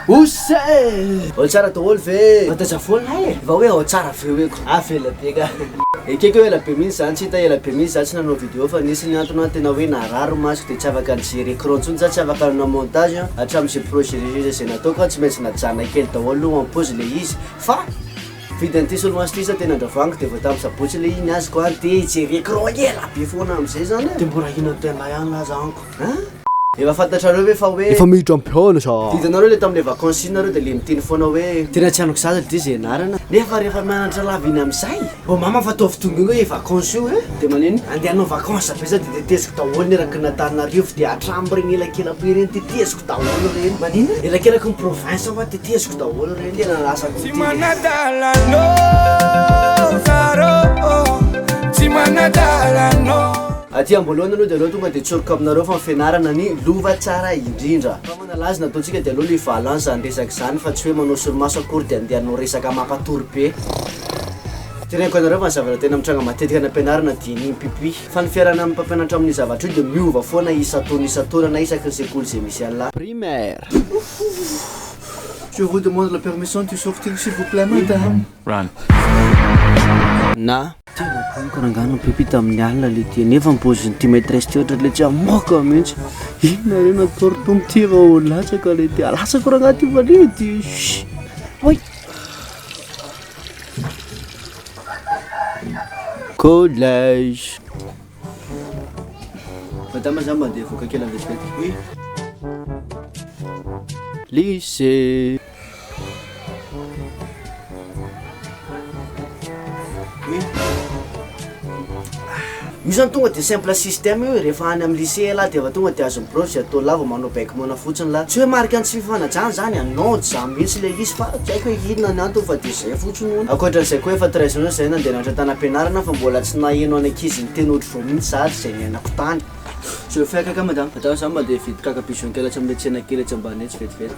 Osa e! Ao tsara daholo ve mandaja foana hay e! Va hoe ao tsara ve hoe ko avela be nga. Ekeko ela be mintsy za tsy hita ela be mintsy za tsy nanao video fa nisy ny antony an tena hoe narary masoko de tsy afaka nijery ecran tsony za tsy afaka nanao montage an hatramin ze projet rehetra ze nataoko an tsy maintsy najanona kely daholo aloha en pause le izy fa nividy an'ity solomaso ty sa de nandravaniko de vao tamin'ny sabotsy le iny azoko an te hijery ecran ela be foana amizay zany e! de mbola hino an'i pailahy any aza anko. An? Efa fantatrareo ve fa hoe. Efa miditra am-pihaona sa. Didanareo le tamin'le vacances iny nareo de le miteny foana hoe. Tena tsy anoko sasy lty ze anarana. Nefa rehefa mianatra lava iny amizay. Vao mama fa ataovy tomboina hoe vacances io e. De manino? Andeha hanao vacances ve za de teteziko daholo ny eraky ny Antananarivo de hatramreny elakelako ireny teteziko daholo ireny. Manino? Elakelaky ny province hoa teteziko daholo ireny. Tena lasa ko ty. Tsy manadala anao zarô ô, tsy manadala anao. Aty amboalohany aloha de aleo tonga de tsoriko aminareo fa ny fianarana ny lova tsara indrindra. Fa manalaza ny ataontsika de aleo le valant zany resaka zany fa tsy hoe manao solomaso akory de andeha anao resaka mampatory be. Teneniko anareo fa ny zavatra tena mitranga matetika any ampianarana de ny mpipi. Fa ny fiarahana amin'ny mpampianatra amin'io zavatra io de miova foana isan-taona isan-taona na isaky ny sekoly ze misy anla. Primaire. Je vous demande la permission to sortir s'il vous plait madame. Run. Na. Tena boka rangahy no pipy tamin'ny alina le ty nefa ny pozin'ity maîtresse ty ohatra le tsy amoaka mihitsy inona re natao ry tompo ty efa ho latsaka le ty alatsako rangahy ty valiha ty oy collège madama za mba andeha hivoaka kely andesy kely oui lycée Io zany tonga de simple système io e, rehefa any amin'ny lycée ialahy de efa tonga de azon'ny prof izay atao lava manao bec moana fotsiny lahy, tsy hoe marika ny tsy fifanajana zany a, non tsy zany mihitsy ilay izy fa tsy haiko hoe inona ny antony fa de zay fotsiny hono, ankoatran'izay koa efa treize ans izay nandehanatra tany am-pianarana fa mbola tsy naheno any ankizy niteny ohatr'izao mihitsy za ary izay niainako tany. Zao fiaikako any madama, fa za zany mandeha hividy kaka bison kely atsy amin'ny tsena kely atsy ambany etsy vetivety.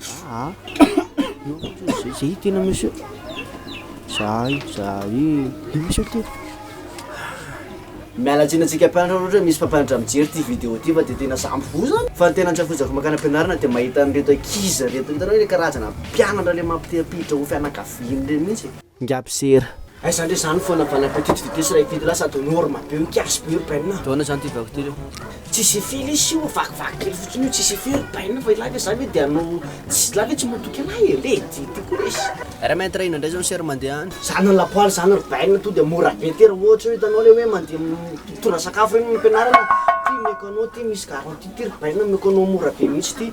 Zah a! Zah i tena monsieur. Zah i, zah i. I monsieur ty. Miala tsiny antsika mpianatra ohatra misy mpampianatra mijery ity vidéo ity fa dia tena sampy voa zany fa ny tena antsakojako makany am-pianarana dia mahita an'ireto ankizy ireto hitanao ilay karazana mpianatra ilay mampite-hampiditra ho fianakaviany ireny mihitsy e. Ngab sera. Aiza ndray zany fona bon appetit tsy dite sy ray fito lasa de norma be io kiasy be io rbn a. Taona zany ty vaky ty reo. Tsy sify lesy io, vakivaky kely fotsiny io, tsy sify rbn fa ilay ve za ve de anao tsy ilay ve tsy motoky anay e, lady ty koa lesy. Raha mainty raha inona ndray zao ny sera mandeha any. Zany ny lapoaly zany rbn to de mora be ty raha ohatra hoe hitanao le hoe mandeha mitondra sakafo reny any am-pianarana, ty meko anao ty misy garantie ty rbn meko anao mora be mihitsy ty.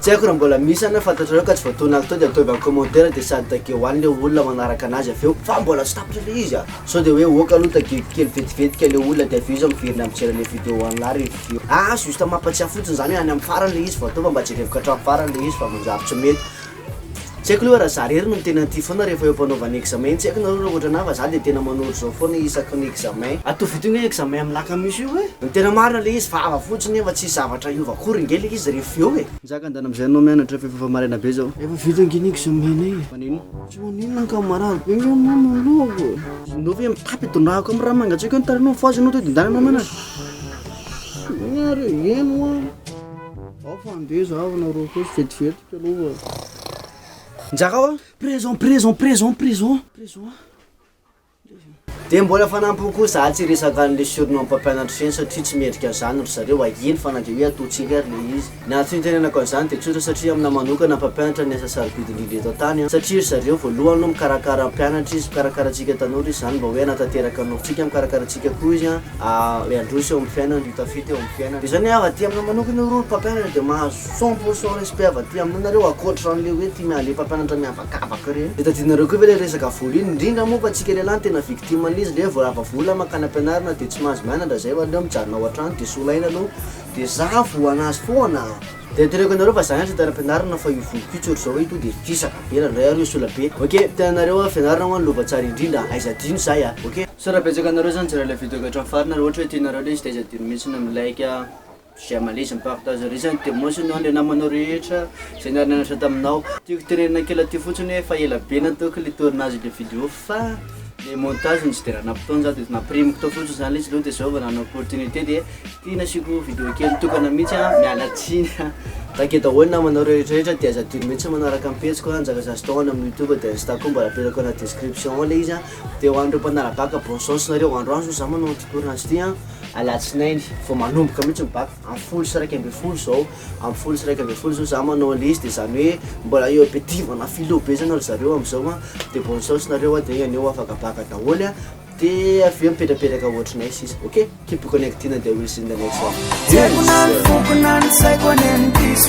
Tsy haiko raha mbola misy any na fantatrareo ka tsy voataon'ny haky tao dia ataovy any commentaire dia sady tageo any le olona manaraka anazy avy eo fa mbola tsy tapitra le izy ah! Sao dia hoe ok aloha tageko kely vetivety ka le olona dia avy eo izy miverina mijery anle video any la review. Ah juste mampatsiahy fotsiny zany hoe any amin'ny farany le izy vao atao fa mba jereviko hatramin'ny farany le izy fa manjary tsy mety Tsy haiko aloha raha za rery no tena tia foana rehefa eo am-panaovana examen, tsy haiko nareo raha ohatrana fa za dia tena manoro zao foana isaky ny examen. Atovy ity hoe examen am laka misy io e! Ny tena marina le izy vava fotsiny nefa tsisy zavatra hiova akory nge le izy ref eo e! Nizaka an dana amzay anao mianatra fa efa efa maraina be zao. Efa vita ange ny examen nay e! Manino? Tsy manino ny camarade be nge mama ny lohako e! Enao ve mitapy itondrahako am raha mangatsiaka eo ny tarehinao mifohaza enao to de ndanana mianatra? Mianatra e! Eny hoa! Ao fa andeha zaho nareo koa vetivety. Njarao an! Présent, présent, présent, présent, présent an! Dia mbola fanampiny koa za tsy hiresaka an'le surnom mpampianatra feno satria tsy mendrika an'izany ry zareo ahiany fa na dia hoe ataontsika ary le izy. Ny antony itenenako an'izany dia tsotra satria aminah manokana mpampianatra ny asa sarobidy indrindra eto an-tany an! Satria ry zareo voalohany aloha mikarakara mpianatra izy, mikarakara antsika tanora izy, izany mba hoe hanatanteraka ny nofintsika, mikarakara antsika koa izy an! Aah, hoe handroso eo amin'ny fiainana, hitafita eo amin'ny fiainana. Izany hoe aho aty aminah manokana io rô ry mpampianatra dia mahazo. Cent pour cent respect avy aty aminareo akoatra anle hoe tia miandry mpampianatra miavakavaka ireny de tadinareo koa ve le resaka vola iny indrindra moa fa tsika lelahy no tena victime an'izy le vao lava vola mankany ampianarana de tsy mahazo mianatra zay valeo mijanona ao antrano de solaina aloha de zah voa anazy foana. De teneniko anareo fa zah ihany tsy tena ampianarina fa io voliko io tsy ohatr'izao hoe to de fisaka be nandray ary sola be ok tenanareo a fianarana ho'a ny lova tsara indrindra aiza adino zay a ok. Sao raha betsaka anareo zany nijery ilay video ka hatramin'ny farany ary ohatra hoe tianareo ilay izy de aiza adino mihitsy ny mi like a. J'ai ma liste mipartage liste ny demos nao le namanao rehetra zay niara-nianatra taminao. Tiako tenenina kely aty fotsiny hoe efa ela be nataoko le tournage le vidéo fa le montage no tsy de nanam-potoana za de nampirimiko tao fotsiny zany le izy aloha de zao vao nanana opportunité de ty nasiako vidéo kely tokana mihitsy a, miala tsiny a. Take daholo ny namanao rehetrarehetra de aza adino mihitsy manaraka ny pejiko a, Njaka Zasy Tao any amin'ny youtube de insta koa mba apetrako anaty description ao le izy a, de ho an'ireo mpanara-baka bon chance nareo, androany zao za manao an'ity tournage ty a. alatsinainy vao manomboka mihitsy ny bac amin'ny folo sy iraika ambin'ny folo zao amin'ny folo sy iraika ambin'ny folo zao za manao anle izy de zany hoe mbola eo be tivana philo be zany ry zareo amizao an de bonne chance nareo an de anio ho afaka bac daholo an de avy eo mipetrapetraka ohatrinay sisa ok keep connected an de we'll see in the next one peace